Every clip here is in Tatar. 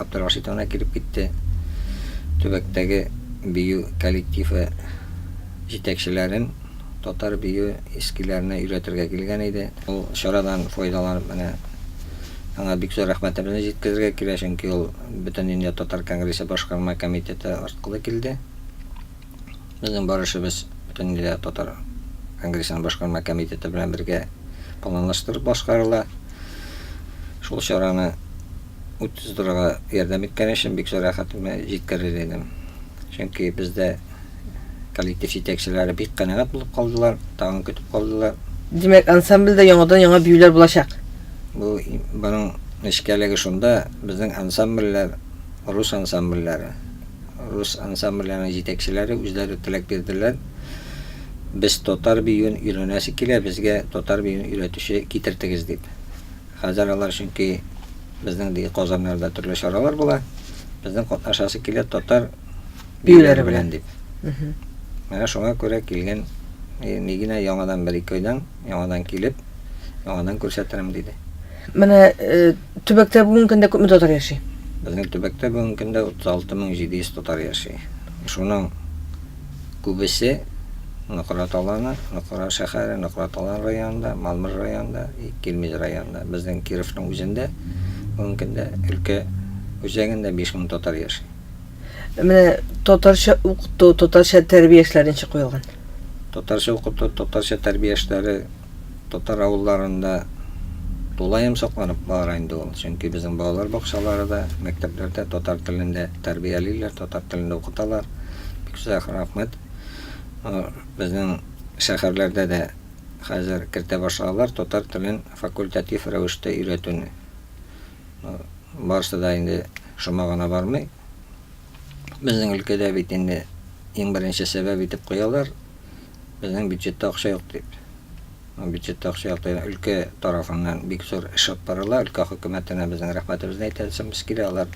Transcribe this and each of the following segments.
Абдрашитовна килеп китте. Төбәктәге бию коллективы җитәкчеләрен татар бию эскиләренә өйрәтергә килгән иде. Ул чарадан файдаланып менә аңа бик зур рәхмәтемне җиткерергә килә, чөнки ул Бөтендөнья татар конгрессы башкарма комитеты арткылы килде. Безнең бар эшебез Бөтендөнья татар конгрессының башкарма комитеты белән бергә планлаштырып башкарыла. Шул чараны Ут тоздырырга ярдәм иткән өчен бик зур рәхәтемне җиткерер идем. Чөнки бездә коллектив җитәкчеләре бик канәгать булып калдылар, тагын көтеп калдылар. Димәк, ансамбльдә яңадан-яңа биюләр булачак. Бу моның нечкәлеге шунда, безнең ансамбльләр рус ансамбльләре. Рус ансамбльләренең җитәкчеләре үзләре теләк бирделәр. Без татар биюен өйрәнәсе килә, безгә татар биюен өйрәтүче китертегез дип. Хәзер алар чөнки безнең ди Казаннарда төрле чаралар була. Безнең катнашасы килә татар биюләре белән дип. Менә шуңа күрә килгән Мигина яңадан бер ике айдан яңадан килеп, яңадан күрсәтерем диде. Менә төбәктә бүгенге көндә күпме татар яши? Безнең төбәктә бүгенге көндә 36700 татар яши. Шуның күбесе Нократ Аланы, Нокра шәһәре, Нократ Алан районында, Малмыж районында, Килмеж районында. Безнең Кировның үзендә бүгенге көндә өлкә үзәгендә 5000 татар яши. Менә татарча укыту, татарча тәрбия эшләре ничек куелган? Татарча укыту, татарча тәрбия эшләре татар авылларында тулаем сакланып бара инде ул. Чөнки безнең балалар бакчалары да, мәктәпләр дә татар телендә тәрбиялиләр, татар телендә укыталар. Бик озак рәхмәт. Безнең шәһәрләрдә дә хәзер кертә башладылар татар телен факультатив рәвештә өйрәтүне. Барысы да инде шома гына бармый. Безнең өлкәдә бит инде иң беренче сәбәп итеп куялар, безнең бюджетта акча юк дип. Ну, бюджетта акча юк дигән өлкә тарафыннан бик зур эш алып барыла. Өлкә хөкүмәтенә безнең рәхмәтебезне әйтәсебез килә. Алар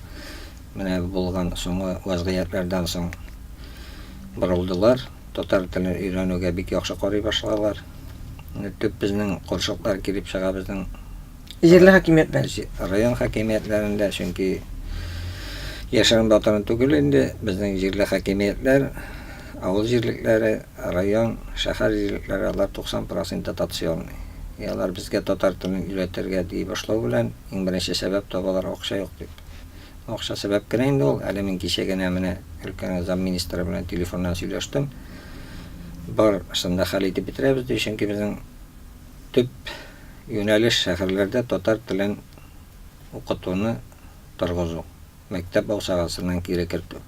менә булган соңгы вазгыятьләрдән соң борылдылар. Татар телен өйрәнүгә бик яхшы карый башладылар. Төп безнең курчаклар килеп чыга безнең Җирле хакимиятләр, район хакимиятләрендә, чөнки яшерен батырын түгел инде, безнең җирле хакимиятләр, авыл җирлекләре, район, шәһәр җирлекләре, алар 90 процент дотационный. И алар безгә татар телен өйрәтергә дии башлау белән, иң беренче сәбәп табалар, акча юк дип. Акча сәбәп кенә инде ул, әле мин кичә генә менә өлкәнең замминистры белән телефоннан сөйләштем. Барысын да хәл итеп бетерәбез ди, чөнки безнең Төп юнәлеш, шәһәрләрдә татар телен укытуны торгызу, мәктәп бакчагасыннан кире кертү.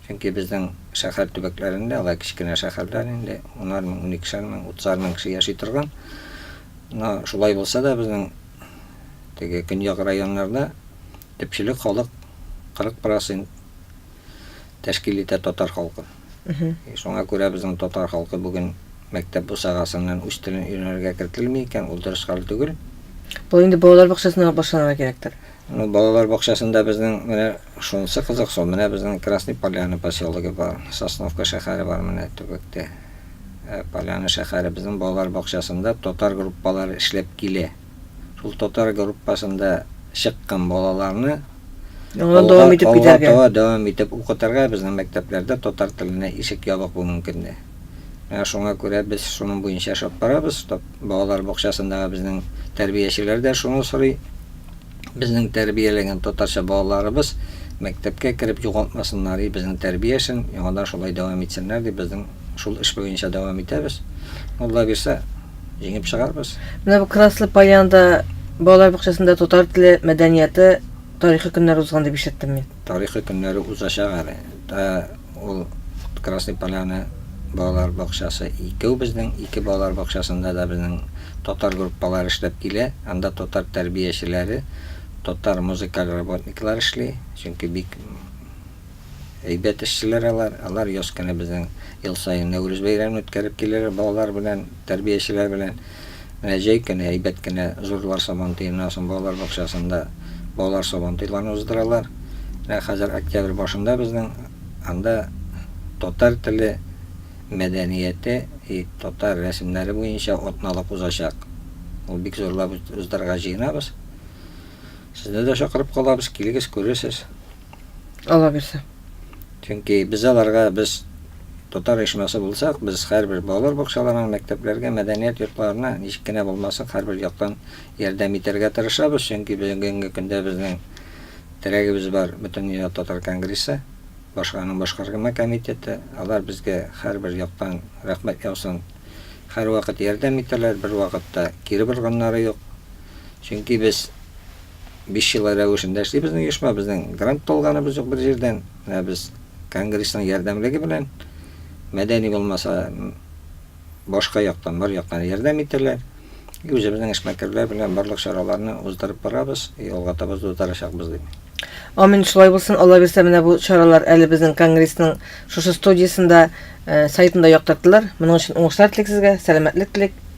Чөнки безнең шәһәр төбәкләрендә, алай кечкенә шәһәрләр инде, унар мең, уникешәр мең, утызар мең кеше яши торган. Но шулай булса да, безнең теге көньяк районнарда төпчелек халык 40 процент тәшкил итә татар халкы. Шуңа күрә безнең татар халкы бүген мәктәп бусагасыннан үз телен өйрәнергә кертелми икән, ул дөрес хәл түгел. Бу инде балалар бакчасыннан ук башланырга кирәктер. Ну, балалар бакчасында безнең менә шунысы кызык со, менә безнең Красный Поляны поселогы бар, Сосновка шәһәре бар менә төбәктә. Ә Поляны шәһәре безнең балалар бакчасында татар группалары эшләп килә. Шул татар группасында чыккан балаларны Яңадан дәвам итеп китәргә. Алга дәвам итеп укытырга безнең мәктәпләрдә татар теленә ишек ябык бу мөмкинне. Менә шуңа күрә без шуның буенча эшләп барабыз. Балалар бакчасындагы безнең тәрбиячеләр дә шуны сорый. Безнең тәрбияләгән татарча балаларыбыз мәктәпкә кереп югалтмасыннар и безнең тәрбия эшен, яңадан шулай дәвам итсеннәр дип безнең шул эш буенча дәвам итәбез. Алла бирсә, җиңеп чыгарбыз. Менә бу Краслы Поляндә балалар бакчасында татар теле, мәдәнияте, тарихы көннәре узган дип ишеттем мин. Тарихы көннәре узачак әле. Ул Красный Поляна балалар бакчасы икәү безнең, ике балалар бакчасында да безнең татар группалары эшләп килә. Анда татар тәрбиячеләре, татар музыкаль работниклар эшли, чөнки бик әйбәт эшчеләр алар. Алар ел саен Нәүрүз бәйрәмен үткәреп киләләр балалар белән. Тәрбиячеләр белән менә җәй көне әйбәт кенә Зурлар сабантуеннан балалар бакчасында балалар сабантуйларын уздыралар. Менә хәзер октябрь башында безнең анда татар теле, мәдәнияте и татар рәсемнәре буенча атналык узачак. Ул бик зурлап уздырырга җыенабыз. Сезне дә чакырып калабыз, килегез, күрерсез. Аллабирса. Чөнки без аларга, без татар оешмасы булсак, без һәрбер балалар бакчаларына, мәктәпләргә, мәдәният йортларына ничек кенә булмасын, һәрбер яктан ярдәм итәргә тырышабыз, чөнки бүгенге көндә безнең терәгебез бар, Бөтендөнья татар конгрессы, башканың башкаргма комитеты, алар безгә һәрбер яктан рәхмәт яусын, һәрвакыт ярдәм итәләр, бервакыт та кире борганнары юк, чөнки без. Биш ел рәвешендә эшли безнең оешма, безнең грант та алганыбыз юк бер җирдән. Менә без конгрессның ярдәмлеге белән, мәдәни булмаса, башка яктан, бар яктан ярдәм итәләр. И үзебезнең эшмәкәрләр белән барлык чараларны уздырып барабыз, и алга таба да уздарачакбыз дип. Амин, шулай булсын. Алла бирсә, менә бу чаралар әле безнең конгрессның шушы студиясендә, сайтында яктыртылыр. Моның өчен уңышлар телик сезгә, сәламәтлек телик.